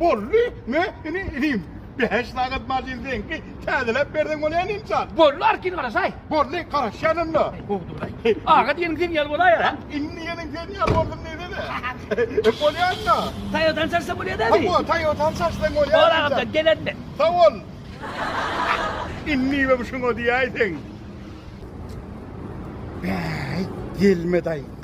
Boldy, me, ini, inim. Bäş sagat maşyn seňki, täzeläp berseň bolýa inimjan. Boldy, arkin garaşaý. Boldy, garaşýan onda. Bogduraý. Aga diýeniň sen ýaly bolaýar, hä? Indi diýeniň sen ýaly boldum diýsene. Bolýa onda. Toýotany çaşsa bolýa däbi? Hawa, Toýotany çaşsaň bolýa. Bor agamjan, gelen men. Sag bol. Indibem şuňa diýäýseň. Bäý, gelme daýy.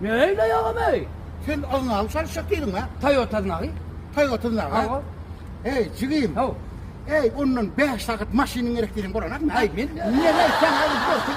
Ne öýleý agam eý. Sen aznawy çalyşjak diýdiňä. Taý otuz nagy. Taý otuz nagy. Hawa. Eý jigim. Haw. Eý ondan bäş sagat maşynyň gerek diýseň bolanakmy? Aý men. Neneý sagat görseň.